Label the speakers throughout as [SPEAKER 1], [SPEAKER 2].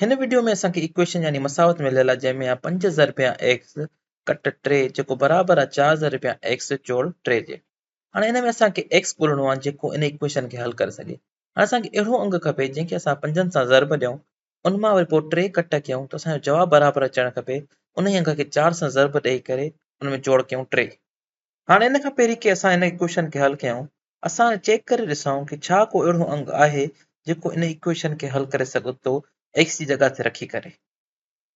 [SPEAKER 1] هن وڊيو ۾ اسان کي ايڪويشن يعني مساوت مليل آهي جنهن ۾ آ پنج ضربيا ايڪس ڪٽ ٽي جيڪو برابر آ چار ضربيا ايڪس جوڙ ٽي جي. هاڻي هن ۾ اسان کي ايڪس ڳولڻو آ جيڪو ان ايڪويشن کي حل ڪري سگهي. هاڻي اسان کي اهڙو انگ کپي جنهن کي اسان پنجن سان ضرب ڏيون ان مان وري پوء ٽي ڪٽ ڪيون ته اسان جو جواب برابر اچڻ کپي انهي انگ کي چار سان ضرب ڏئي ڪري ان ۾ جوڙ ڪيون ٽي. هاڻي ان کان پهرين ڪي اسان ان ايڪوئيشن کي حل ڪيائون، اسان چيڪ ڪري ڏسائون ڪي ڇا ڪو اهڙو انگ آهي جيڪو ان ايڪوئيشن کي حل ڪري سگهو ٿو ايڪس جي جڳهه تي رکي ڪري.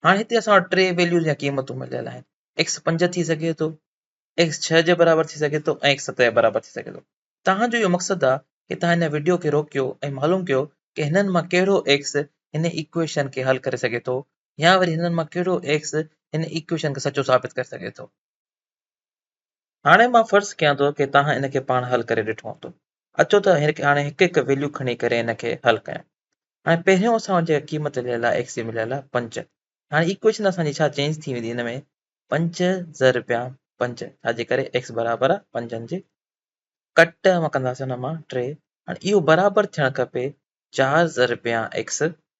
[SPEAKER 1] هاڻي هتي اسان وٽ ٽي ويليوز يا قيمتون مليل آهن، ايڪس پنج ٿي سگهي ٿو، ايڪس ڇهه جي برابر ٿي سگهي ٿو ۽ ايڪس ست جي برابر ٿي سگهي ٿو. توهان جو اهو مقصد آهي ڪي توهان هن وڊيو کي روڪيو ۽ معلوم ڪيو ڪي هنن مان ڪهڙو ايڪس هن ايڪوئيشن کي حل ڪري سگهي ٿو يا وري هنن مان ڪهڙو ايڪس هن ايڪوئيشن کي سچو ثابت ڪري سگهي ٿو. هاڻي مان فرض ڪيان ٿو ته توهان ان کي پاڻ حل ڪري ڏٺو هوندو. اچو ته هاڻي هڪ هڪ ويليو کڻي ڪري ان کي حل ڪيون. هاڻي پهريون اسان جي قيمت مليل آهي ايڪس جي مليل آهي پنج. هاڻي ايڪويشن اسان جي ڇا چينج ٿي ويندي ان ۾ پنج ضربيان پنج ڇا جي ڪري ايڪس برابر آهي پنجن جي ڪٽ مان ڪنداسين ان مان ٽي هاڻي اهو برابر ٿيڻ کپي چار ضربيان ايڪس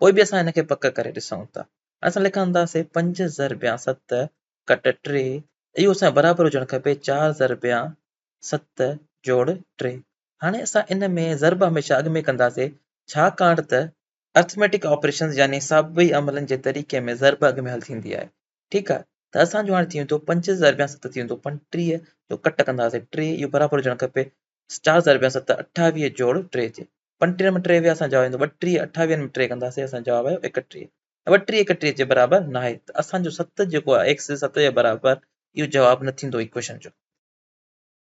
[SPEAKER 1] پوء به اسان ان کي پڪ ڪري ڏسون ٿا. اسان لکنداسين پنج ضربيان ست ڪٽ ٽي، اهو اسان جي برابر هجڻ کپي چار ضربيان ست جوڙ ٽي. هاڻي اسان ان ۾ ضرب هميشه اڳ ۾ ڪنداسين، ڇاڪاڻ ته Arithmetic Operations يعني حسابي عملن جي طريقي ۾ ضرب اڳ ۾ حل ٿيندي آهي. ٺيڪ آهي ته اسان جو هاڻي ٿي ويندو پنج ضربيان ست ٿي ويندو پنٽيهه جو ڪٽ ڪنداسين ٽي اهو برابر هجڻ کپي چار هزار رپيا ست اٺاويهه جوڙ ٽي جي پنجٽيهه ۾ ٽي ويا اسان جواب ايندو ٻٽيهه اٺاويهن ۾ ٽي ڪنداسين اسان جواب آيو ايڪٽيهه ٻٽيهه ايڪٽيهه جي برابر نه آهي ته اسان جو ست جيڪو آهي ايڪس ست جي برابر اهو جواب نه ٿيندو ايڪويشن جو